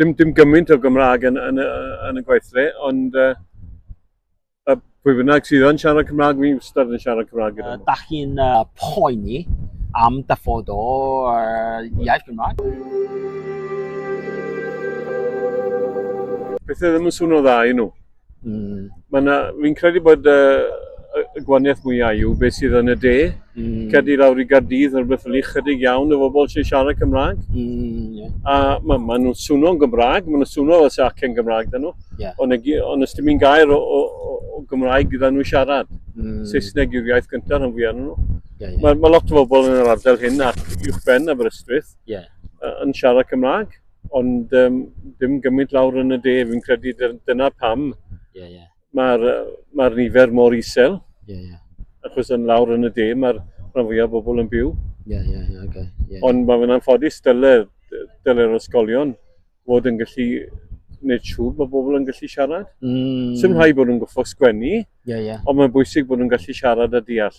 dim, dim gymaint o Gymraeg yn, yn, yn y gweithle, ond uh, y pwy bynnag sydd yn siarad Cymraeg, fi'n wastad yn siarad Cymraeg gyda nhw. Uh, da chi'n uh, poeni am dyfod o uh, iaith Gymraeg? Pethau ddim yn swnio dda i nhw. Mm. Mae'n fi'n credu bod uh, y gwaniaeth mwyaf yw beth sydd yn y de. Mm. Cedi lawr i Gardydd, yn rhywbeth fel chydig iawn o bobl sy'n siarad Cymraeg. Mm, yeah. A maen ma nhw'n swno'n Gymraeg, maen nhw'n swno fel sy'n acen Gymraeg dyn nhw. Yeah. Ond on ysdyn ni'n gair o, o, o, o Gymraeg gyda nhw siarad. Mm. Saesneg yw'r iaith gyntaf rhan fwyaf nhw. Yeah, yeah. Mae ma lot o bobl yn yr ardal hyn ac uwch ben Aberystwyth yeah. yn siarad Cymraeg. ond um, dim gymaint lawr yn y de, fi'n credu dyna pam yeah, yeah. mae'r ma nifer mor isel. Yeah, yeah. Achos yn lawr yn y de, mae'r rhan fwyaf bobl yn byw. Yeah, yeah, yeah, okay. yeah. Ond mae fe'n anffodus dyle'r dyle ysgolion fod yn gallu gwneud siŵr bod bobl yn gallu siarad. Mm. Sym rhai bod nhw'n goffo sgwennu, yeah, yeah. ond mae'n bwysig bod nhw'n gallu siarad a deall.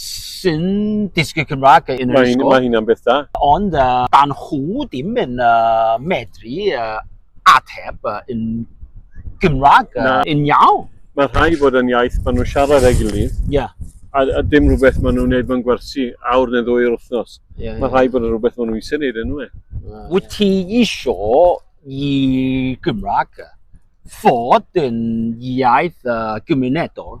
sy'n dysgu Cymraeg yn yr ysgol. Mae hynna'n beth da. Ond uh, dan nhw ddim yn uh, medru uh, ateb uh, yn Gymraeg uh, yn iawn. Mae rhai bod yn iaith maen nhw'n siarad ag gilydd. Yeah. A, a dim rhywbeth maen nhw'n gwneud mewn gwersi awr neu ddwy o'r wythnos. Yeah, Mae rhai bod yn rhywbeth maen nhw'n eisiau gwneud yn nhw. Wyt ti eisiau i Gymraeg fod yn iaith uh, gymunedol?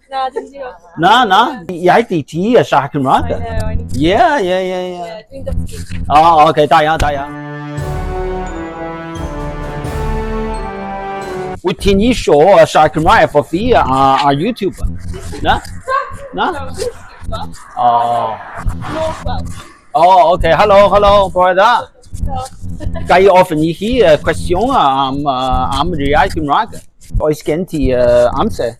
Na, dwi'n diolch. Na, na. Iaith i ti a siarad Cymraeg. I know, I need to... Yeah, yeah, yeah, yeah. Yeah, dwi'n dysgu. O, oh, okay, da iawn, da iawn. Wyt ti'n isio a siarad Cymraeg efo fi a, a YouTuber? Na? Na? O. Oh. O, oh, okay, halo, halo, bore da. Ga i ofyn i chi cwestiwn am, am riau Cymraeg? Oes gen ti uh, amser?